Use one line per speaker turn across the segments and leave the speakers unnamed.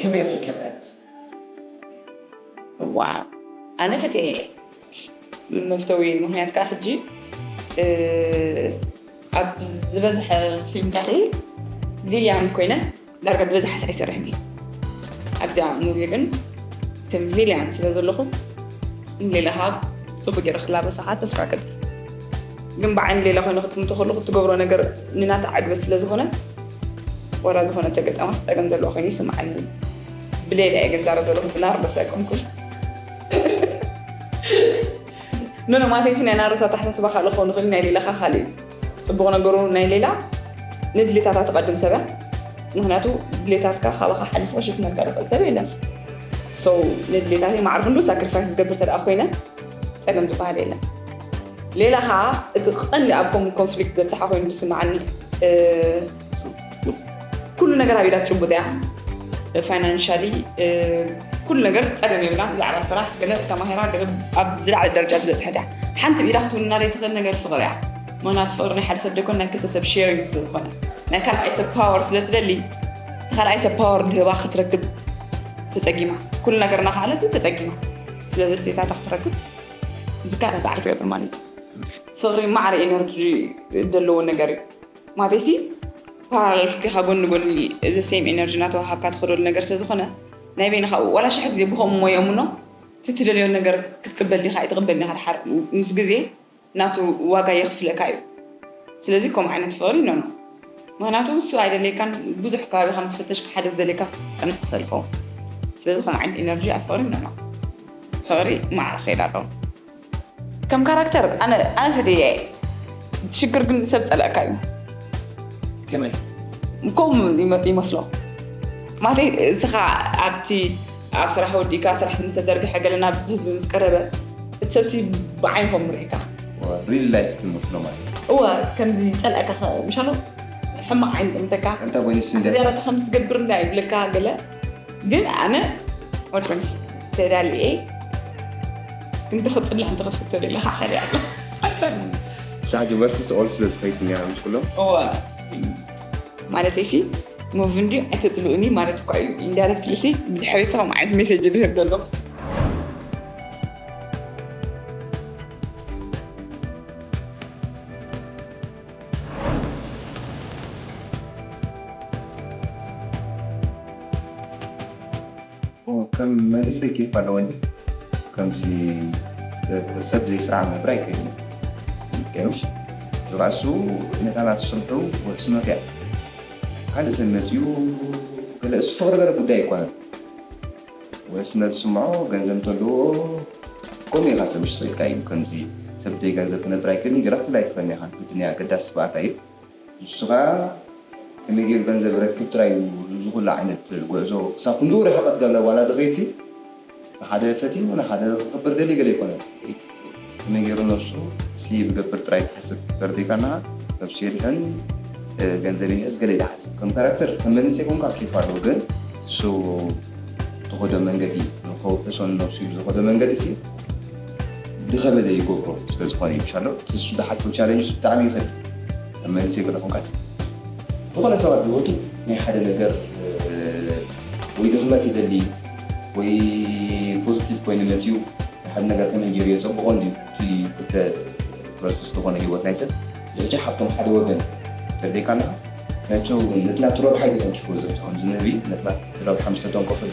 ከመይ ኢኺ ከመያስ ዋው ኣነ ፈትየያ እየ መፍተዊ ምክንያት ከዓ ሕጂ ኣብ ዝበዝሐ ፊልምታት ቪልያን ኮይነ ዳርጋ ብበዝሓ ሳዕ ይሰርሕ እየ ኣብዚኣ ሙቪ ግን ከም ቪልያን ስለ ዘለኹ ሌላ ከዓ ፅቡቅ ገይረ ክላበሳ ከዓ ተስፋ ይገብር ግን ብዓይኒ ሌላ ኮይነ ክትምቶ ከለኩ እትገብሮ ነገር ንናታ ዕግበት ስለ ዝኾነ ዋላ ዝኾነ ተገጣማስ ጸገም ዘለዎ ኮይኑ ይስምዓኒ ብሌላ እየ ግን ዛረብ ዘለኹ ብናርዶስ ኣይኮንኩን ኖኖ ማለተይሲ ናይ ናርዶስ ኣተሓሳስባ ካልእ ክኸውን ይኽእል ናይ ሌላኻ ካልእ እዩ ፅቡቕ ነገሩ ናይ ሌላ ንድሌታታ ትቐድም ሰበ ምክንያቱ ድሌታትካ ካባኻ ሓሊፉ ክሽፍነልካ ዝኽእል ሰብ የለን ሰው ንድሌታተይ ማዕርፍ እንዶ ሳክሪፋይስ ዝገብር ተደኣ ኮይነ ጸገም ዝበሃል የለን። ሌላ ከኣ እቲ ቀንዲ ኣብ ከምኡ ኮንፍሊክት ዘብጽሓ ኮይኑ ዝስምዓኒ ኩሉ ነገር ኣብ ኢዳ ጭቡጥ እያ። ፋይናንሻሊ ኩሉ ነገር ጸገም የብላን። ብዛዕባ ስራሕ ገለ ተማሂራ ገለ ኣብ ዝለዓለ ደረጃ ዝበጽሐት እያ። ሓንቲ ብኢዳ ክትውንና ዘይትኽእል ነገር ፍቕሪ እያ። ምኽንያቱ ፍቕሪ ናይ ሓደ ሰብ ዘይኮነ ናይ ክልተ ሰብ ሼሪንግ ስለ ዝኾነ ናይ ካልኣይ ሰብ ፓወር ስለ ትደሊ ንኻልኣይ ሰብ ፓወር ድህባ ክትረክብ ተጸጊማ ኩሉ ነገርና ከኣለት ተጸጊማ ስለ ዝርዴታታ ክትረክብ ዝካረ ፃዕሪ ትገብር ማለት እዩ ፍቅሪ ማዕረ ኤነርጂ ዘለዎ ነገር እዩ ማለትሲ ፓራሌል ስቲካ ጎኒ ጎኒ እዚ ሴም ኤነርጂ እናተዋሃብካ ትኸደሉ ነገር ስለዝኾነ ናይ በይንኻ ዋላ ሽሕ ግዜ ብከምኡ ሞየሙኖ ትትደልዮ ነገር ክትቅበል ዲኻ ኣይትቅበል ዲኻ ድሓር ምስ ግዜ ናቱ ዋጋ የኽፍለካ እዩ ስለዚ ከምኡ ዓይነት ፍቅሪ ኖኖ ምክንያቱ እሱ ኣይደለይካን ብዙሕ ከባቢ ከም ዝፍተሽካ ሓደ ዝደለይካ ክትጸንሕ ትኽእል ትኸውን ስለዚ ከምኡ ዓይነት ኢነርጂ ኣብ ፍቅሪ ኖኖ ፍቅሪ ማዕረ ክኸይድ ኣለዎ ከም ካራክተር ኣነ ኣነ ፈትየ ሽግር ግን ሰብ ጸላእካ እዩ
ከመይ
ከምኡ ይመስሎ ማለተይ እስኻ ኣብቲ ኣብ ስራሕ ወዲእካ ስራሕ ምስ ተዘርግሐ ገለ ናብ ህዝቢ ምስ ቀረበ እቲ ሰብሲ ብዓይኒ ከምኡ ርኢካ ሪል ላይፍ
ትምስሎ ማለት እዩ። እወ ከምዚ
ይጸልኣካ ከ ምሻሎ ሕማቅ ዓይኒ ጥምተካ ኣንታ ጎይንስ ኣቲ እንዲያስ ዝያዳ
ከምዚ ትገብር እንዳ
ይብለካ ገለ ግን ኣነ ወድ ጎይንስ ተዳልየ ክንዲ ክጽልዕ እንተ ክትፍቶ ደለ ከዓ ከደ ኣሎ
ሳሕጂ ቨርስስ ኦል ስለ ዝኸይድ እኒኣ ምስ ኩሎም እወ
ማለተይሲ ሙቭ እንድዩ ኣይተፅልኡኒ ማለት እኳ እዩ ኢንዳይረክትሊ ሲ ብድሕሪ ሰም ዓይነት ሜሴጅ ዝህብ ዘሎ
ከም መንእሰይ ኬፍ ኣለወኒ ከምዚ ሰብ ዘይሰዓብ ናብራ ኣይከድን እየ ገርሽ ዝባእሱ ነታላ ትስርሑ ወሕስኖት እያ ካልእ ሰብ መጺኡ ገለ እሱ ፍቅሪ ገለ ጉዳይ ኣይኮነን ወሕስነት ዝስምዖ ገንዘብ እንተለዎ ከምኡ ኢካ ሰብ ይሽሰልካ እዩ ከምዚ ሰብ ብዘይ ገንዘብ ክነብር ኣይክእልን ገለ ክትብል ኣይትክእልን ኢካ ግድን እያ ኣገዳሲ ባእታ እዩ። ንሱ ከኣ ከመይ ጌሩ ገንዘብ ይረክብ ጥራይ እዩ እዚ ኩሉ ዓይነት ጉዕዞ ክሳብ ክንድኡ ርሕቀት ጋብላ ጓል ኣደኺ ሲ ንሓደ ፈቲኑ ንሓደ ክኽብር ደልዩ ገለ ኣይኮነን ከመይ ጌሩ ነብሱ ሴቭ ይገብር ጥራይ ትሓስብ ተርዲእካ እንሃ ነብሱ የድሕን ገንዘብ ይሕዝ ገለ ትሓስብ ከም ካራክተር ከም መንእሰይ ኮንካ ኬፍ ኣለዎ ግን ንሱ ዝኸዶ መንገዲ ንኸውሕሶ ንነብሱ ኢሉ ዝኸዶ መንገዲ ሲ ድኸበደ ይገብሮ ስለዝኾነ እዩ ሻሎ ትሱ ድሓቶ ቻለንጅ ብጣዕሚ ይኸብድ ኣብ መንእሰይ ገለኹምካስ ዝኾነ ሰባት ዝወቱ ናይ ሓደ ነገር ወይ ድኽመት ይደሊ ወይ ፖዚቲቭ ኮይኑ መፅዩ ሓደ ነገር ከመይ ገይሩ የፀብቆ እንድዩ እቲ ክልተ ቨርስስ ዝኾነ ህይወት ናይ ሰብ ዝሕጂ ሓብቶም ሓደ ወገን ተደይካ ኣለኻ ናቸው ነትናቱ ረብሓ ይተተንኪፎ ዘብፅሖም ዝንህቢ ነትና ረብሓ ምስ ተተንከፈሉ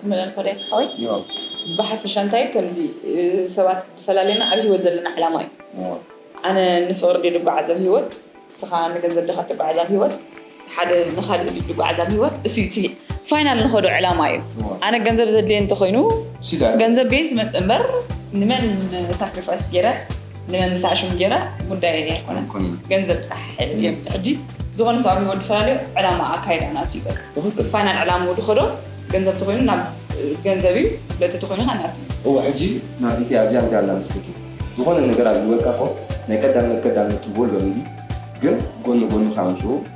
ክምለል ፈለየት ሓወይ
ብሓፈሻ እንታይ
እዩ ከምዚ ሰባት ዝፈላለየና ኣብ ሂወት ዘለና ዕላማ እዩ ኣነ ንፍቅሪ ድየ ድጓዓዝ ኣብ ሂወት ንስኻ ንገንዘብ ዲኻ ትጓዓዝ ኣብ ሂወት እቲ ሓደ ንኻሊእ ድዩ ድጓዓዝ ኣብ ሂወት እሱ እዩ እቲ ፋይናል ንኸዶ ዕላማ እዩ ኣነ ገንዘብ ዘድልየ እንተኾይኑ ገንዘብ ቤየን ትመጽእ እምበር ንመን ሳክሪፋይስ ጌረ ንምምታዕ ሽም ጌራ ጉዳይ እያ ኣይኮነን ገንዘብ ጥራሕ እዮም ሕጂ ዝኾነ ሰብ ኣብ ህይወት ድፈላለዩ ዕላማ ኣካይዳ ናት እዩ በቃ ትኽክል ፋይናል ዕላምኡ ድኸዶ ገንዘብ ተኮይኑ ናብ ገንዘብ እዩ ለቲ ተኮይኑ ከዓ ናቱ እዩ እወ ሕጂ
ናብ ኢቲ ኣድያ እንታይ ኣላ መስለኪ ዝኾነ ነገር ኣብ ህይወትካ እኮ ናይ ቀዳምነት ቀዳምነት ትህቦ ኣሎ ሜቢ ግን ጎኒ ጎኒ ከዓ ምስኡ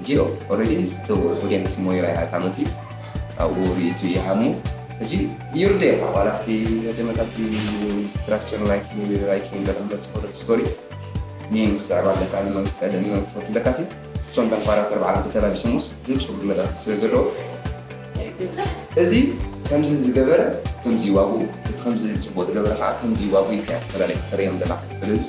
እቲኦ ኦረዲ እቲ ኦድየንስ ሞይራ ኢያ እታ መትዩ ኣብኡ ሪኢቱ ኢዩ ሃሙ ሕጂ ይርደየካ ዋላ ኣብቲ መጀመርታ ኣብቲ ስትራክቸር ናይቲ ራይቲንግ ዘለካ ተጽሕፎ ዘቲ ስቶሪ ሜን ክትስዕብ ኣለካ ንመን ክትጸልእ ንመን ክትፈቱ ለካሲ እሶም እቶም ካራክተር ባዕሎም ተተላቢሶሞስ ንጹር መልእክቲ ስለ ዘለዎ እዚ ከምዚ ዝገበረ ከምዚ ኢዩ ዋግኡ እቲ ከምዚ ጽቡቅ ዝገበረ ከኣ ከምዚ ኢዩ ዋግኡ ኢልካ ኢካ ተፈላልያ ተፈርዮም ዘለካ ስለዝስ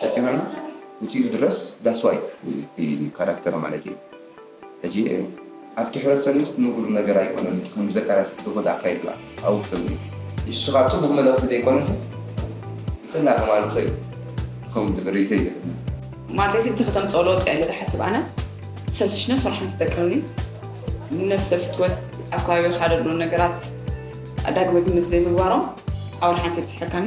ጀግናና ውፂኡ ድረስ ዳስዋይ እዩ ካራክተር ማለት እዩ ሕጂ ኣብቲ ሕብረተሰብ ምስ ንቡር ነገር ኣይኮነን እቲ ከም ዘካርያስ ጥቡት ኣካይድዋ ኣብኡ ክተብሉ ኢየሱስ ኻብ ጽቡቕ መልእኽቲ ዘይኮነስ ብጽላ ተማልኾ እዩ ከም ድብሪተይ ይብል ማዘሲ
እቲ ከተም ጸሎት ያለ ዝሓስብ ኣነ ሰልፊሽነ ስራሕን ትጠቅምኒ ነፍሰ ፍትወት ኣብ ከባቢ ካደሉ ነገራት ኣዳግመ ግምት ዘይምግባሮም ኣውል ሓንቲ ይብፅሐካኒ